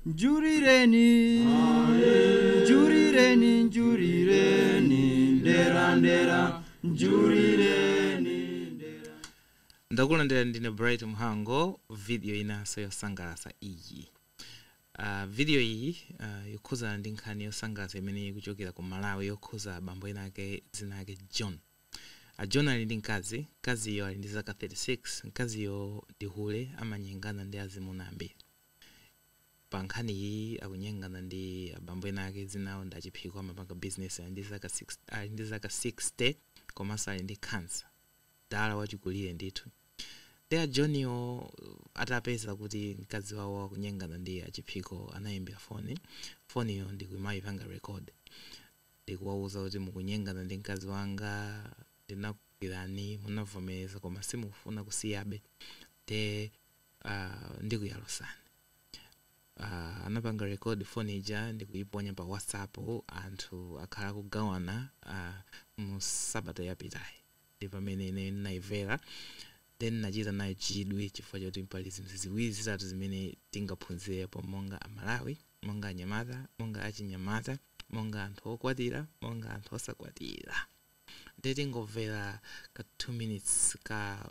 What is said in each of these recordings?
Njurireni, njurireni, njurireni, ndera, ndera, njurireni. ndakulandirani ndine bright mhango video inanso yosangalatsa iyi uh, video iyi uh, yokhuzana ndi nkhani yosangalatsa imene ikuchokera ku malawi yokhuza bambo ena ake dzina ake john a john ali ndi mkazi mkaziyo ali ndi zaka 36 mkaziyo ndi hule amanyengana ndi azimuna ambiri Pa nkhaniyi akunyengana ndi abambo ena ake dzina lawo ndi a Chiphiko amapanga business ali ndi zaka 60 komanso ali ndi cancer mdala wachikulire ndithu nde a Joniwo atapeza kuti mkazi wawo akunyengana ndi a Chiphiko anaimbira foni foniyo ndikumayipanga record ndikuwauza kuti mukunyengana ndi mkazi wanga ndinakugwirani munavomereza koma simukufuna kusiyabe nde uh, ndikuyalusani uh, anapanga record phone ija ndikuiponya pa whatsapp anthu akhala akugawana uh, mu sabata yapitayi ndi pamene ine naimvera then nachita nayo chidwi chifukwa choti pali zinthu ziwiri zitatu zimene tingaphunzirepo monga amalawi monga anyamata monga achinyamata monga anthu okwatira monga anthu osakwatira ndiye tingomvera ka 2 minutes ka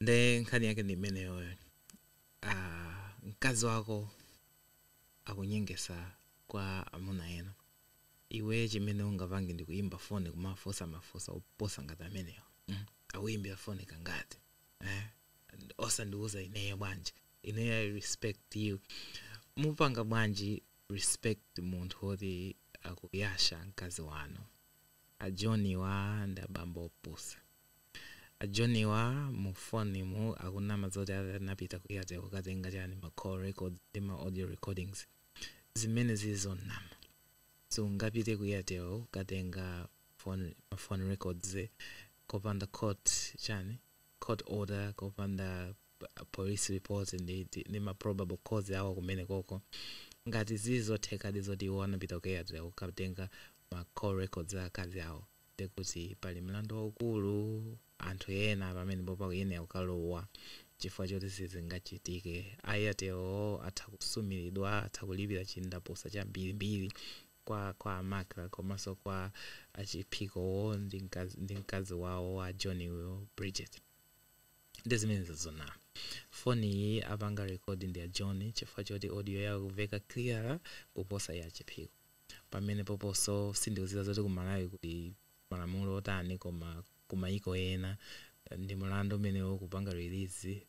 nde nkhani yake ndi imeneyoyo ah, mkazi wako akunyengesa kwa amuna ena iwe chimene ungapange ndi kuyimba foni kumafunsa mafunso opusa ngati amenewo mm. akuyimbira foni kangati eh? osandiuza ineyo bwanji ineyo i respect you mupanga bwanji respect munthu woti akuyasha mkazi wanu a Joniwa ndi abambo opusa A Joniwa mu phone mu akunama zoti anapita ku Airtel kukatenga chani ma call records ndi ma audio recordings zimenezi zonama sungapite ku Airtel kukatenga phone ma phone records kopanda court chani court order kopanda pa- police report ndi, ndi, ndi ma probable cause awo kumene koko ngati zili zothekadi zoti iwo anapita ku Airtel kukatenga ma call records a akazi awo ndiye kuti pali mlandu waukulu anthu ena pamenepo pakuyenera kukalowa chifukwa choti sizingachitike Airtel atha kusumilidwa atha kulipira chindapusa chambiri mbiri kwa kwa Macra komanso kwa achiphikowo ndi mkazi ndi mkazi wawo wa John yu Bridget nde zimenezo zoona foni iyi apanga record ndi a John chifukwa choti audio yawo ikuveka clearer kuposa ya achiphiko pamenepoposo sindikuziwa zoti ku Malawi kuti malamulo otani koma ku mayiko ena ndi mulandu umenewo kupanga release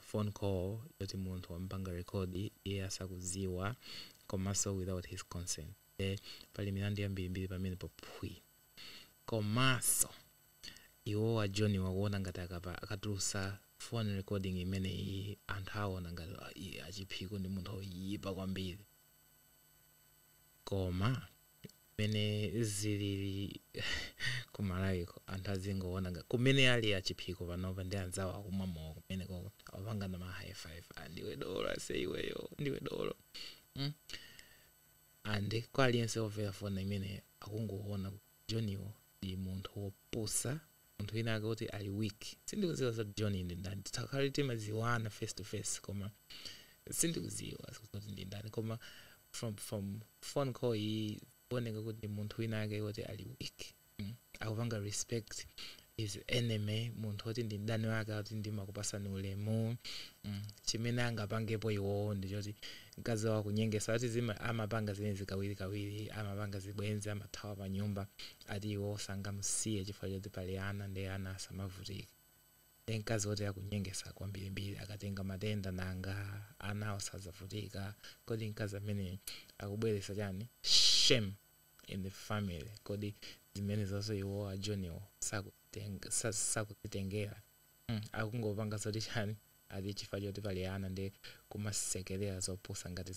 phone call yoti munthu wamupanga record iye asakuziwa komaso without his consent nde pali milandu yambirimbiri pamenepopo phwi komaso iwowo a Joni akuona ngati akapa akatulusa phone recording imeneyi anthu awona ngati a Chiphiko ndi munthu oyipa kwambiri. koma mene zilili ku malawiko anthu azingoona nga- kumene ali a Chiphiko panopa ndi anzawo akumwa mowa kumenekoko akupangana ma high five ah, ndiwe dolo ase iweyo ndiwe dolo mm? and kwa aliyense overa foni imeneyi akungoona joniwo ndi munthu wopusa munthu wina ake oti ali weak sindikudziwa zoti john ndi ndani titakhale timadziwana face to face koma sindikudziwa kuti ndi ndani koma from from phone call iyi kuoneka kuti munthu wina ake oti ali weak mm. akupanga respect his enemy munthu oti ndi mdani wake ati ndimakupatsani ulemu mm. chimene angapangepo iwowo ndichoti mkazi wawo akunyengesa ati zima amapanga zibwenzi kawirikawiri amapanga zibwenzi amathawa pa nyumba ati iwo sangamusiye chifukwa choti pali ana nde ana asamavutike nde mkazi woti akunyengesa kwambirimbiri akatenga matenda nanga anawo sadzavutika kodi mkazi ameneyu akubweresa chani shame in the family kodi zimenezozo iwo a joniwo sakuziteng sakuzitengera mm akungopanga zoti chani ati chifukwa choti pali ana nde kumasekerera zopusa ngati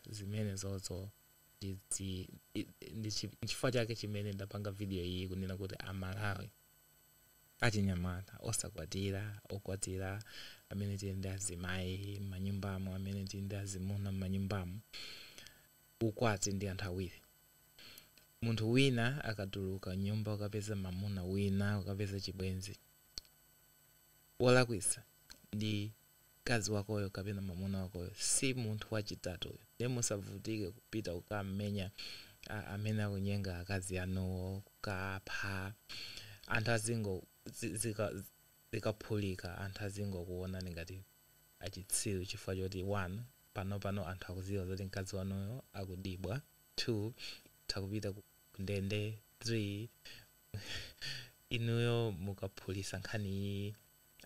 zimenezozo Ndi chifukwa chake chimene ndapanga video iyi kunena kuti a Malawi achinyamata osakwatira, okwatira, amene tili ndi azimayi mmanyumbamo, amene tili ndi azimuna mmanyumbamo, ukwati ndi anthu awiri. Munthu wina akatuluka mnyumba kukapeza mamuna wina, kukapeza chibwenzi, wolakwisa ndi. mkazi wakoyo kapena mamuna wakoyo si munthu wachitatuyo nde musavutike kupita kukamenya a- amene akunyenga akazi anuwo kukapha anthu azingo zi- zika- zikaphulika anthu azingokuonani ngati achitsiru chifukwa choti 1 panopano anthu akuziwa zoti mkazi wanuyo akudibwa 2 mukupita ku ku ndende 3 inuyo mukaphulisa nkhani iyi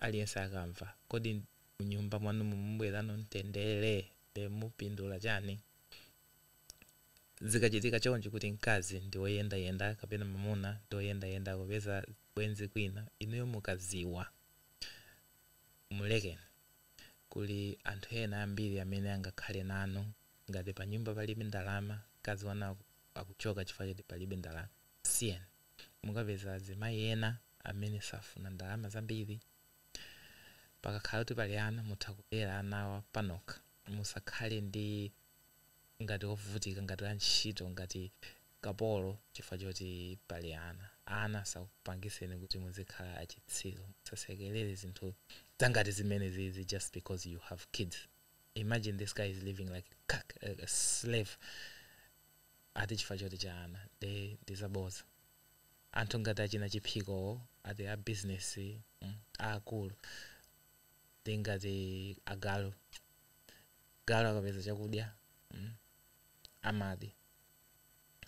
aliyense akamva. Kodi mnyumba mwanumo mubwerano mtendere? Nde mupindula chani? Zikachitika chonchi kuti mkazi ndi oyendayenda kapena mamuna ndi oyendayenda akupeza zibwenzi kwina, inuyo mukaziwa, mulekeni. Kuli anthu ena ambiri amene angakhale nanu. Ngati panyumba palibe ndalama, mkazi wanu akuchoka chifukwa choti palibe ndalama, msiyeni. Mukapeza azimayi ena amene safuna ndalama zambiri. Pakakhala kuti pali ana mutha kulera anawa panokha musakhale ndi ngati ovutika ngati antchito ngati kapolo chifukwa choti pali ana. Ana asakupangiseni kuti muzikhala achitsiru. Musasekelere zinthu zangati zimenezizi, just because you have kids. Imagine this guy is living like a slave. ati chifukwa choti cha ana nde ndi zabodza anthu ngati achina Chiphikowo ati a business mm aakulu ndi ngati agalu galu akapeza chakudya mm amadya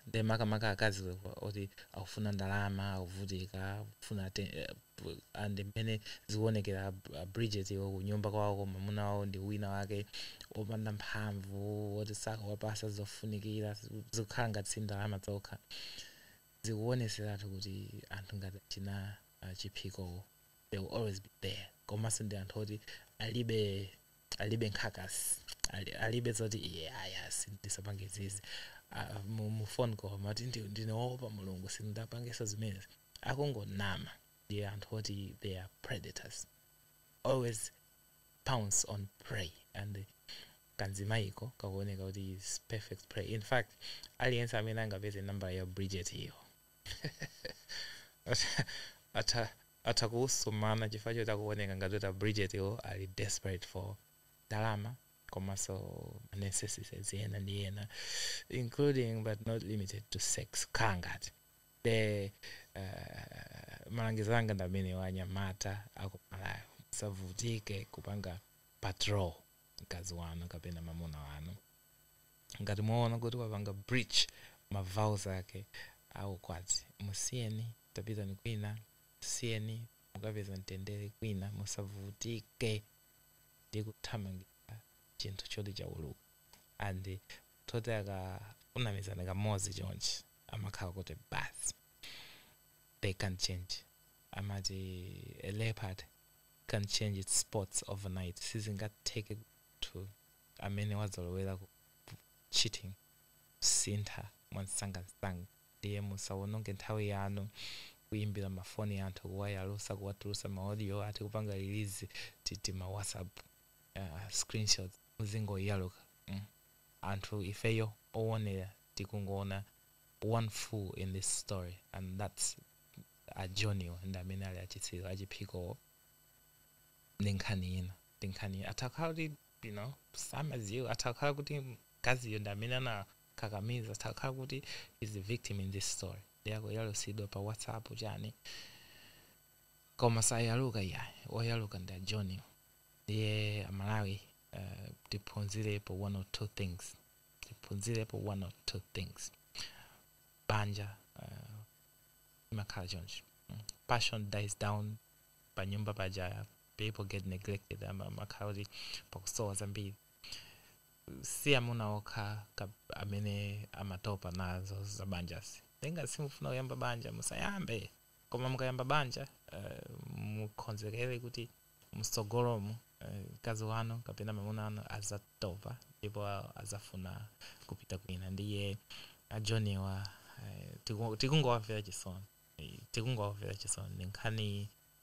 nde makamaka akazi oti akufuna ndalama akuvutika akufuna atten eh, and mmene zikuonekera a, a Bridgetwo kunyumba kwawoko mwamuna wawo ndi wina wake opanda mphamvu woti sakuwapasa zofunikira zikukhala ngati si ndalama zokha zikuoneseratu kuti anthu ngati achina uh, Chiphikowo they will always be there komanso ndi anthu oti alibe alibe nkhawa, ali, alibe zoti iye ayasi ndisapange zizi Ah, mu mu phone call amati ndi- ndinaopa Mulungu sindapangeso zimenezi akungonama ndi anthu oti they are predators always pounce on prey and kanzimayiko kakuoneka kuti is perfect prey in fact aliyense amene angapeze nambala ya Bridget iyo atha atha kuwusumana chifukwa choti akuoneka ngati kuti a Bridgetwo ali desperate for ndalama komanso ma necessities ena ndi ena including but not limited to sex kukhala ngati nde uh, malangizo anga ndi amenewa anyamata akuMalawi musavutike kupanga patrol mkazi wanu kapena mamuna wanu Ngati mwaona kuti wapanga breach ma vows ake a ukwati, musiyeni, tapitani kwina, musiyeni mukapeza mtendere kwina, musavutike ndi kuthamangitsa chinthu choti chauluka and munthu oti akakunamizani kamodzi chonchi amakhala kuti basi they can't change, amati a leopard can't change its spots overnight, sizingatheke kuti munthu amene wazolowera ku cheating sasintha mwansangansanga ndiye musawononge nthawi yanu kuimbira ma phone anthu kuwayalusa kuwatulusa ma audio ati kupanga release ti tima WhatsApp uh, screenshots muzingoyaluka mm. anthu ifeyo owonera tikungoona one fool in this story and that's a Joniwa ndi amene ali achitsiru achiphikowo ndi nkhani ina ndi nkhani ina atakhala kuti you know samadziwa atakhala kuti mkaziyo ndi amene anakakamiza atakhala kuti he's the victim in this story iye akuyalusidwa pa whatsapp chani koma sayaluka iyayi oyaluka ndi a Joni ndiye amalawi uh, tiphunzirepo one or two things tiphunzirepo one or two things banja uh, imakhala choncho Mm. passion dies down panyumba paja people get neglected ama- amakhala kuti pakusowa zambiri si amuna okha ka- amene amatopa nazo za banjazi ngati simufuna kuyamba banja musayambe koma mukayamba banja eh, mukonzekere kuti msogolomu eh, mkazi wanu kapena mamuna wanu azatopa ndipo azafuna kupita kwina ndiye a Joniwa eh, tiku- tikungowamvera chisoni Eh, tikungowamvera chisoni ndi nkhani